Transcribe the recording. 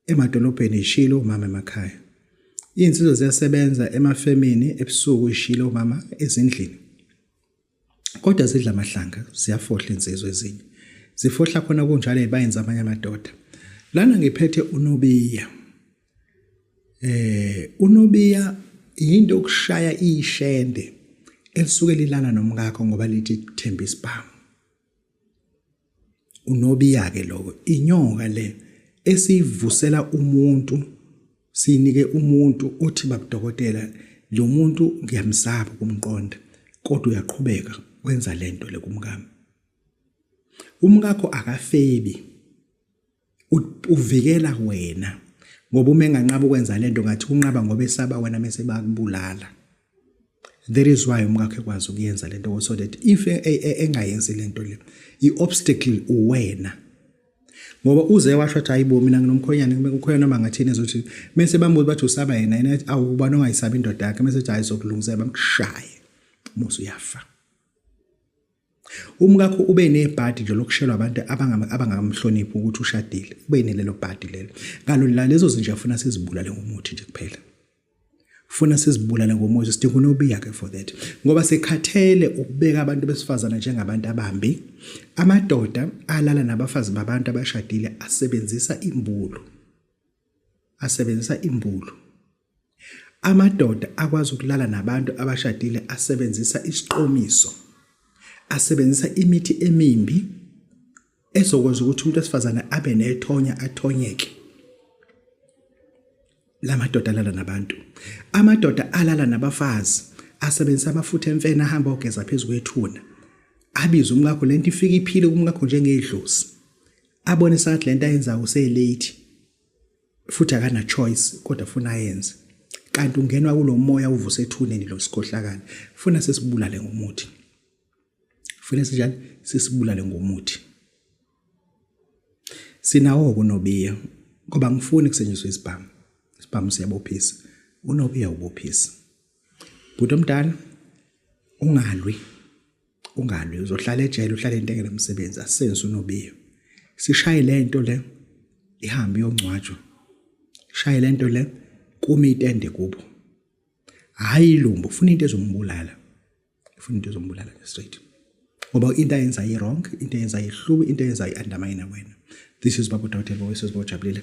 emadolobheni ishilo umama emakhaya iy'nsizwa ziyasebenza emafemini ebusuku ishilo umama ezindlini kodwa zidla amahlanga ziyafohla insizwa ezinye zifohla khona kunjalo ebayenza amanye amadoda lana ngiphethe unobiya eh unobiya yinto okushaya ishende elisuke lilana nomkakho ngoba lithi themba isibhamu Unobiya-ke lowo, inyoka le esiyivusela umuntu, siyinike umuntu othi babudokotela, lo muntu ngiyamsaba ukumqonda, kodwa uyaqhubeka wenza le nto le kumkami. Umkakho akafebi. uvikela wena ngoba uma enganqaba ukwenza lento ngathi unqaba ngoba esaba wena mase bakubulala that is why umkakhe kwazi ukuyenza lento so that if e, e, e, engayenzi lento le i-obstacle uwena ngoba uze washo ukuthi hayibo mina nginomkhonyane kukhona noma ngathini ezothi mese bambuza bathi usaba yena yena awu ubani ongayisabi indoda yakhe mese ethi hayi sokulungisela bamshaye musu uyafa Umkakho ube nebhadi nje lokushelwa abantu abangakamhloniphi ukuthi ushadile. Ube nelelo bhadi lelo. Ngalo la lezo zinja funa sizibulale ngomuthi nje kuphela. Funa sizibulale ngomuthi sidinga unobiya ke for that. Ngoba sekhathele ukubeka abantu besifazana njengabantu abambi. Amadoda alala nabafazi babantu abashadile asebenzisa imbulu. Asebenzisa imbulu. Amadoda akwazi ukulala nabantu abashadile asebenzisa isiqomiso, asebenzisa imithi emimbi ezokwenza ukuthi umuntu wesifazane abe nethonya athonyeke. La madoda alala nabantu. Amadoda alala nabafazi asebenzisa amafutha emfene ahamba ogeza phezu kwethuna. Abize umkakho lento ifika iphile kumkakho njengedlozi. Abone sathi lento ayenzayo uselate. futhi akana choice kodwa funa ayenze kanti ungenwa kulomoya uvuse ethuneni lo sikhohlakala funa sesibulale ngomuthi funa sinjani sesibulale ngomuthi sinawo kunobiya ngoba ngifuni kusenyiswe isibhamu isibhamu siyabophisa unobiya ubophisa bhuti omdala ungalwi ungalwi uzohlala ejele uhlale into engena umsebenzi asenze unobiyo sishaye le nto le ihambe yongcwatshwa shaye le nto le kume itende kubo hayi ilumbo ufuna into ezombulala ufuna into ezombulala straight ngoba into ayenza yi-wrong into ayenza yihluku into ayenza yi-undermine wena this is babu dawutela bowesizibojabulile